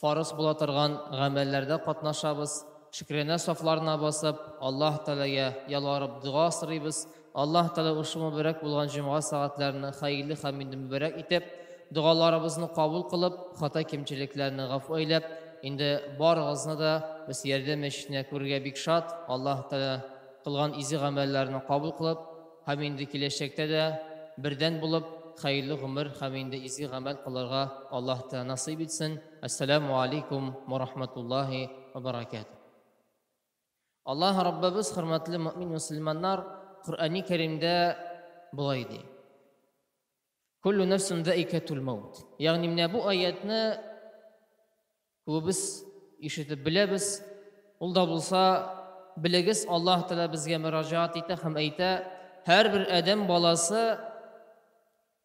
Фарыз була торган гамәлләрдә катнашабыз, шөкранә сафларына басып, Аллаһ Тәгаләгә ялварып дога сорыйбыз, Аллаһ Тәгалә ошбу мөбарәк булган җомга сәгатьләрен хәерле һәм инде мөбарәк итеп, догаларыбызны кабул кылып, хата-кимчелекләрне гафу әйләп, инде барыгызны да без ярдәм мәчетенә күрергә бик шат, Аллаһ Тәгалә кылган изи гамәлләрне кабул кылып, һәм инде киләчәктә дә бердән булып хәерле гомер һәм инде изге гамәл кылырга Аллаһ Тәала насыйп итсен. Әссәләмү алейкум уә рахматуллаһи уә бәрәкәтүһ. Аллаһ Раббыбыз, хөрмәтле мөэмин-мөселманнар, Коръәни Кәримдә болай ди. Куллу нәфсун заикәтул маут. Ягъни менә бу аятны күбебез ишетеп беләбез. Ул да булса, белегез, Аллаһ Тәгалә безгә мөрәҗәгать итә һәм әйтә, һәрбер адәм баласы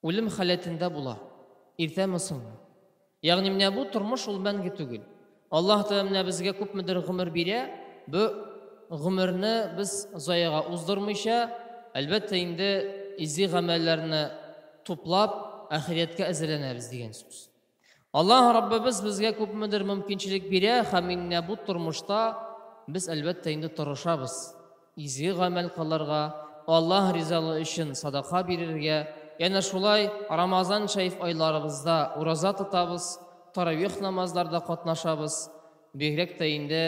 үлем халәтендә була, иртәме-соңмы. Ягъни менә бу тормыш ул мәңге түгел. Аллаһ Тәгалә менә безгә күпмедер гомер бирә, бу гомерне без заяга уздырмыйча, әлбәттә инде изге гамәлләрне туплап, ахирәткә әзерләнәбез дигән сүз. Аллаһ Раббыбыз безгә күпмедер мөмкинчелек бирә һәм менә бу тормышта без әлбәттә инде тырышабыз. изге гамәл кылырга, Аллаһ ризалыгы өчен садака бирергә, янә шулай Рамазан шәриф айларыбызда ураза тотабыз, таравих намазларда катнашабыз, бигрәк тә инде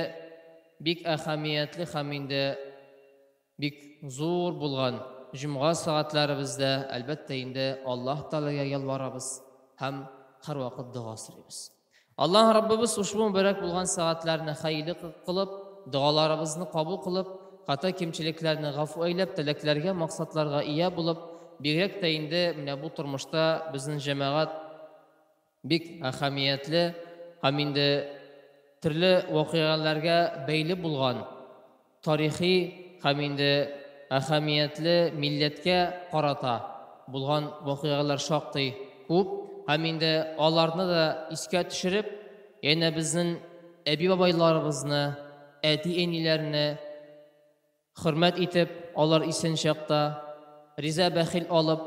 бик әһәмиятле һәм инде бик зур булган җомга сәгатьләребездә, әлбәттә инде, Аллаһ Тәгаләгә ялварабыз һәм һәрвакыт дога сорыйбыз. Аллаһ Раббыбыз ушбу мөбарәк булган сәгатьләрне хәерле кылып, догаларыбызны кабул кылып, хата кимчелекләрне гафу әйләп, теләкләргә, максатларга ия булып, бигрәк тә инде менә бу тормышта безнен җәмәгать бик әһәмиятле һәм инде төрле вакыйгаләргә бәйле булган, тарихи һәм инде әһәмиятле милләткә карата булган вакыйгалар шактый күп һәм инде аларны да искә төшереп, янә безнең әби-бабайларыбызны, әти-әниләрне хөрмәт итеп, алар исән чакта, риза бәхил алып,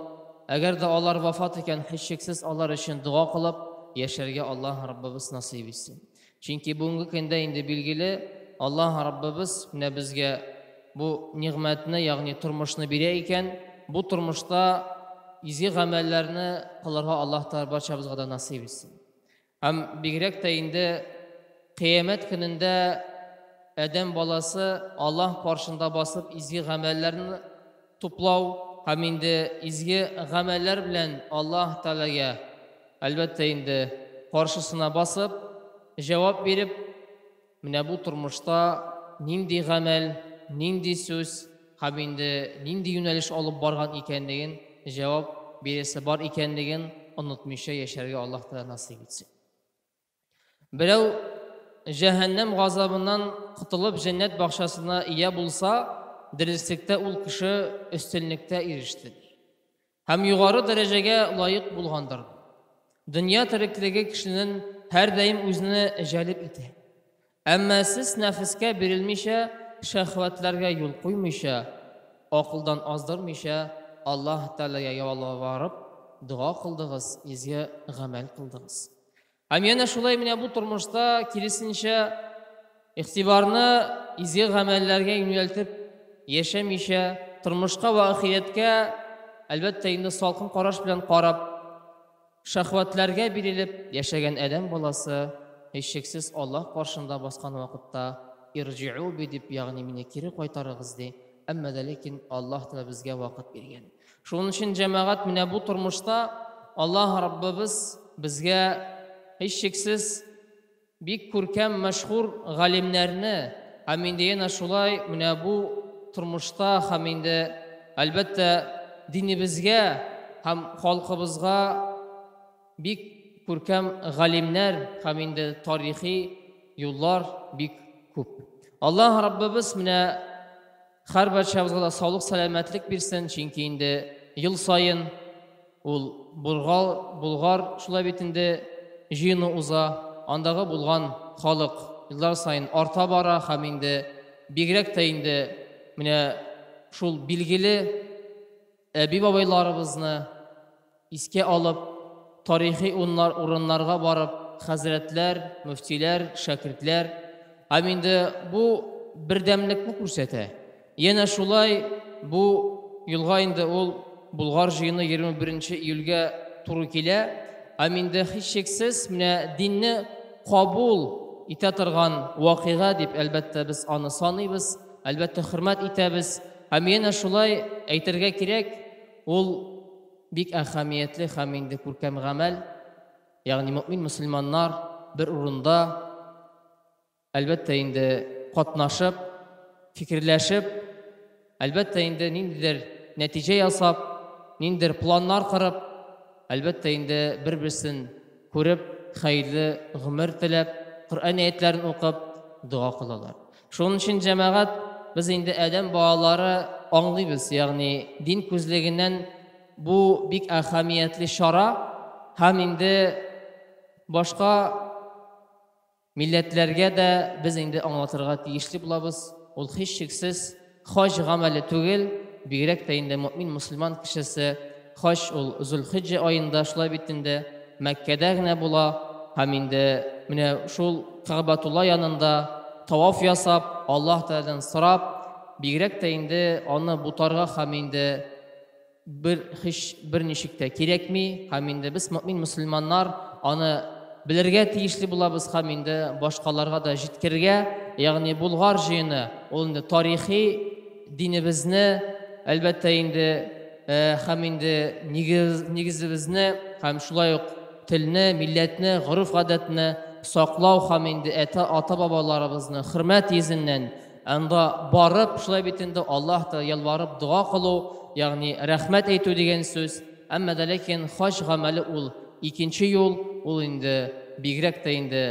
әгәр дә алар вафат икән, һичшиксез алар өчен дога кылып яшәргә Аллаһ Раббыбыз насыйп итсен. Чөнки бүгенге көндә инде билгеле, Аллаһ Раббыбыз менә безгә бу нигъмәтне, ягъни тормышны бирә икән, бу тормышта изге гамәлләрне кылырга Аллаһ Тәгалә барчабызга да насыйп итсен. Һәм бигрәк тә инде кыямәт көнендә адәм баласы Аллаһ каршында басып изге гамәлләрне туплау һәм инде изге гамәлләр белән Аллаһ Тәгаләгә, әлбәттә инде, каршысына басып, җавап биреп, менә бу тормышта нинди гамәл, нинди сүз һәм инде нинди юнәлеш алып барган икәнлеген, җавап бирәсе бар икәнлеген онытмыйча яшәргә Аллаһ Тәгалә насыйп итсен. Берәү җәһәннәм газабыннан котылып җәннәт бакчасына ия булса, дөреслектә ул кеше өстенлектә иреште, ди. Һәм югары дәрәҗәгә лаек булгандыр, ди. Дөнья тереклеге кешенен һәрдаим үзенә җәлеп итә. Әмма сез нәфескә бирелмичә, шәһвәтләргә юл куймыйча, акылдан аздырмыйча, Аллаһ Тәгаләгә ялварып дога кылдыгыз, изге гамәл кылдыгыз. Һәм янә шулай менә бу тормышта, киресенчә, игътибарны изге гамәлләргә юнәлтеп яшәмичә, тормышка вә ахирәткә, әлбәттә инде, салкын караш белән карап, Шәһвәтләргә бирелеп яшәгән адәм баласы, һичшиксез, Аллаһ каршында баскан вакытта, Ирҗиу би дип, ягъни мине кире кайтарыгыз ди. Әмма дә ләкин Аллаһ та безгә вакыт биргән. Шуның өчен, җәмәгать, менә бу тормышта Аллаһ Раббыбыз безгә, һичшиксез, Бик күркәм мәшһүр галимнәрне һәм инде янә шулай менә бу тормышта һәм инде, әлбәттә, динебезгә һәм халкыбызга бик күркәм галимнәр һәм инде тарихи юллар бик күп. Аллаһ Раббыбыз менә. Хәрбарчабызга да саулык сәламәтлек бирсен, чөнки инде ел саен ул Бургал, Болгар шулай бит инде җыену уза, андагы булган халык еллар саен арта бара һәм инде бигрәк тә инде менә шул билгеле, Әби-бабайларыбызны искә алып, тарихи урыннарга барып, хәзрәтләр, мөфтиләр, шәкертләр ам инде бу бердәмлекне күрсәтә. Янә шулай бу елга инде ул Болгар җыены 21 нче июльгә туры килә ам инде һичшиксез менә динне кабул итә торган вакыйга дип, әлбәттә, без аны саныйбыз. Әлбәттә, хөрмәт итәбез. Һәм янә шулай әйтергә кирәк, ул бик әһәмиятле һәм инде күркәм гамәл, ягъни мөэмин-мөселманнар бер урында, әлбәттә инде, катнашып, фикерләшеп, әлбәттә инде, ниндидер нәтиҗә ясап, ниндидер планнар корып, әлбәттә инде, бер-берсен күреп, хәерле гомер теләп, Коръән әятләрен укып, дога кылалар. Шуның өчен җәмәгать без инде адәм балалары аңлыйбыз, ягъни дин күзлегеннән бу бик әһәмиятле чара һәм инде башка милләтләргә дә без инде аңлатырга тиешле булабыз. Ул һичшиксез Хаҗ гамәле түгел, бигрәк тә инде мөэмин мөселман кешесе, хаҗ ул Зөлхиҗҗә аенда, шулай бит инде, Мәккәдә генә була һәм инде менә шул Кәгъбәтулла янында таваф ясап, Аллаһ Тәгаләдән сорап, бигрәк тә инде аны бутарга һәм инде Бер һич берничек тә кирәкми, һәм инде без, мөэмин мөселманнар, аны белергә тиешле булабыз һәм инде башкаларга да җиткергә, ягъни Болгар җыены, ул инде тарихи динебезне, әлбәттә инде, һәм инде нигезебезне һәм шулай ук телне, милләтне, гореф-гадәтне саклау һәм инде әтә, ата-бабаларыбызны хөрмәт йөзеннән Анда барып, шулай бит инде Аллаһ та ялварып дога кылу, ягъни рәхмәт әйтү дигән сүз. Әмма дә ләкин хаҗ гамәле ул икенче юл, ул инде бигрәк тә инде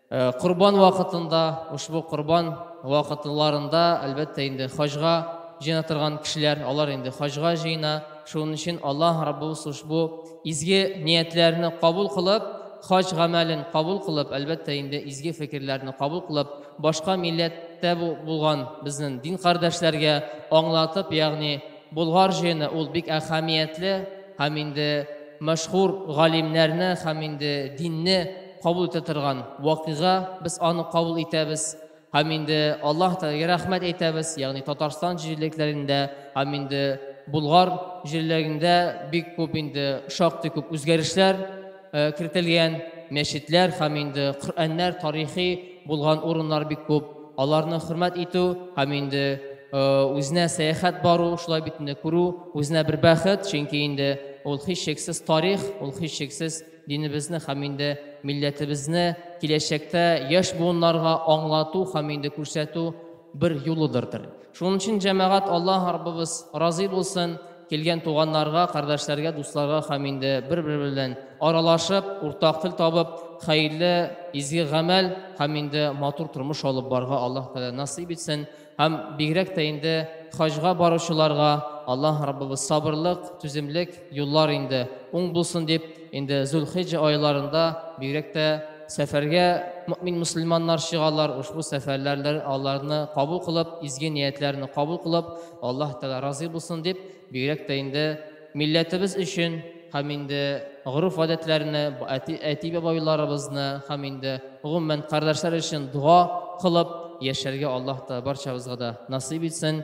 э, корбан вакытында, ошбу корбан вакытларында, әлбәттә инде хаҗга җыена торган кешеләр, алар инде хаҗга җыена. Шуның өчен Аллаһ Раббыбыз ошбу изге ниятләрне кабул кылып, хаҗ гамәлен кабул кылып, әлбәттә инде изге фикерләрне кабул кылып, башка милләттә булган безнең дин кардәшләргә аңлатып, ягъни Болгар җыены ул бик әһәмиятле һәм инде мәшһүр галимнәрне һәм инде динне кабул итә торган вакыйга, без аны кабул итәбез һәм инде Аллаһ Тәгаләгә рәхмәт әйтәбез, ягъни Татарстан җирлекләрендә һәм инде Болгар җирлегендә бик күп инде шактый күп үзгәрешләр, Э, кертелгән мәчетләр һәм инде Коръәннәр тарихи булган урыннар бик күп. Аларны хөрмәт итү һәм инде э, үзенә сәяхәт бару, шулай бит инде күрү, үзенә бер бәхет, чөнки инде ул һичшиксез тарих, ул һичшиксез динебезне һәм инде милләтебезне киләчәктә яшь буыннарга аңлату һәм инде күрсәтү бер юлыдырдыр. Шуның өчен, җәмәгать, Аллаһ Раббыбыз разый булсын, килгән туганнарга, кардәшләргә, дусларга һәм инде бер-бер белән аралашып, уртак тел табып, хәерле, изге гамәл һәм инде матур тормыш алып барга Аллаһ Тәгалә насыйп итсен һәм бигрәк тә инде хаҗга баручыларга Аллаһ Раббыбыз сабырлык, түземлек, юллар инде уң булсын дип, инде Зулхиҗа айларында бигрәк тә сәфәргә мөмин мөселманнар чыгалар, ушбу сәфәрләрләр аларны кабул кылып, изге ниятләрне кабул кылып, Аллаһ Тәгалә разый булсын дип, бигрәк тә инде милләтебез өчен һәм инде гореф-гадәтләрне, әти, әти-бабайларыбызны һәм инде гомумән кардәшләр өчен дога кылып яшәргә Аллаһ Тәгалә барчабызга да насыйп итсен.